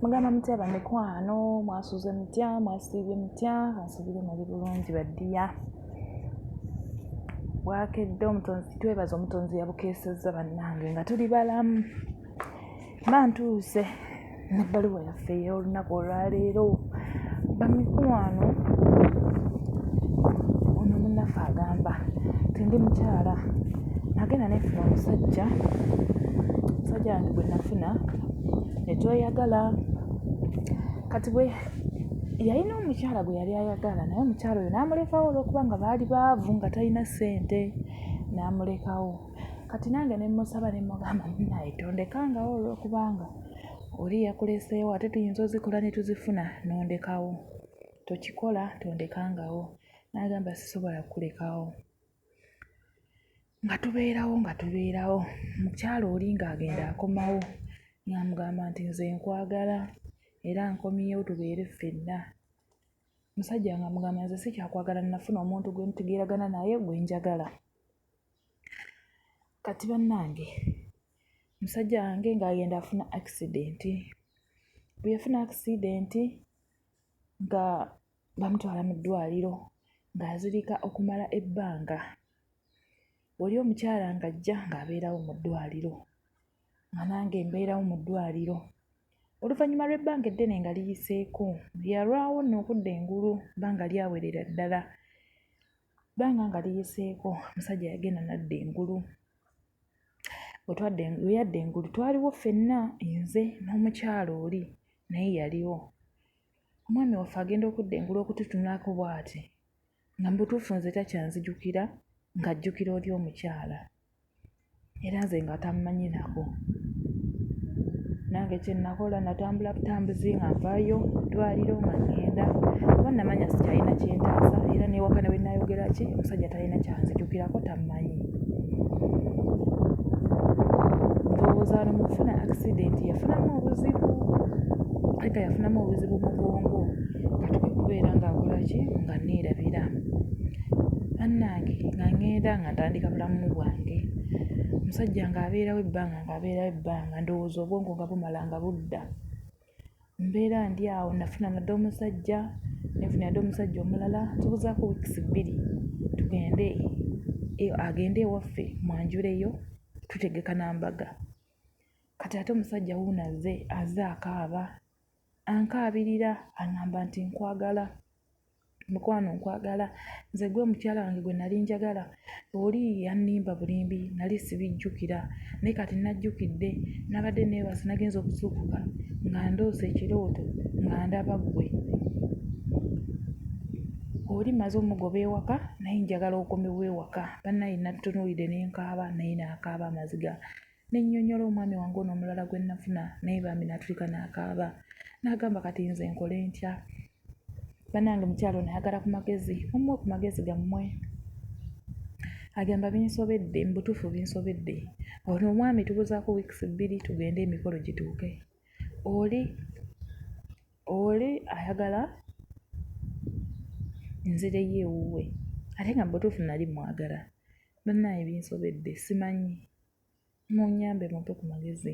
mugamba mutya bamikwano mwasuze mutya mwasiibye mutya kansubire muli bulungi baddiya bwakedde omutonzi twebaza omutonzi yabukeesezza bannange nga tuli balamu bantuuse nebbaluwa yaffe ey'olunaku olwaleero bamikwano ono munaffe agamba tendi mukyala nagenda nefuna omusajja omusajja wange gwe nafuna netweyagala kati bwe yalina omukyala gwe yali ayagala naye omukyala oyo n'amulekawo olwokuba nga baali baavu nga talina ssente n'amulekawo kati nange ne mmusaba ne mugamba munaye tondekangawo olwokubanga oli yakuleseewo ate tuyinza ozikola ne tuzifuna n'ondekawo tokikola tondekangawo n'agamba sisobola kukulekawo nga tubeerawo nga tubeerawo mukyala oli ng'agenda akomawo ng'amugamba nti nze nkwagala era nkomyewo tubeere ffenna. Omusajja ng'amugamba nze sikyakwagala nafuna omuntu gwe ntegeeragana naye gwe njagala. Kati bannange musajja wange ng'agenda afuna akisidenti, bwe yafuna akisidenti nga bamutwala mu ddwaliro ng'azirika okumala ebbanga. Oli omukyala ng'ajja ng'abeerawo mu ddwaliro nga nange mbeerawo mu ddwaliro. Oluvannyuma lw'ebbanga eddene nga liyiseeko, yalwawo nno okudda engulu ebbanga lyawerera ddala. Ebbanga nga liyiseeko omusajja yagenda n'adda engulu. Bwe twadda engulu, bwe yadda engulu twaliwo ffenna nze n'omukyala oli naye yaliwo. Omwami waffe agenda okudda engulu okututunulako bw'ati nga mu butuufu nze takyanzijukira ng'ajjukira oli omukyala era nze nga tammanyi nako. Nange kye nnakola natambula butambuzi nga nvaayo mu ddwaaliro nga ŋŋenda kuba nnamanya sikyalina kyentaasa era n'ewaka ne bwe nnaayogera ki omusajja ta. talina kyanzijukirako tammanyi. Ndowooza wano mu kufuna akisidenti yafunamu obuzibu naye kati afunamu obuzibu mu bwongo kati kwe kubeera ng'akola ki nga nneerabira. Bannange nga ŋŋenda nga ntandika bulamu bwange, omusajja ng'abeerawo ebbanga ng'abeerawo ebbanga ndowooza obwongo nga bumala nga budda. Mbeera ndi awo nafuna nate omusajja ne nfuna nate omusajja omulala tubuzaako weeks bbiri tugende agende ewaffe mmwanjuleyo tutegeka na mbaga kati ate omusajja wuuno azze azze akaaba ankaabirira ang'amba nti nkwagala Mukwano nkwagala, nze gwe mukyala wange gwe nali njagala, oli yannimba bulimbi nali sibijjukira naye kati najjukidde, nabadde neebase nagenze okuzuukuka nga ndoose ekirooto nga ndaba ggwe, oli mmaze omugoba ewaka naye njagala okomewo ewaka, bannange natunuulidde ne nkaaba naye nakaaba amaziga. ne nnyonnyola omwami wange ono omulala gwe nnafuna naye bambi n'atulika n'akaaba n'agamba kati nze nkole ntya bannange mukyalo nayagala ku magezi omuwa ku magezi gammwe agamba binsobedde mu butuufu binsobedde ono omwami tubuzaako wiikisi bbiri tugende emikolo gituuke oli oli ayagala nzireyo ewuwe ate nga mu butuufu nali mwagala Bannaaye binsobedde simanyi munyambe mumpe ku magezi.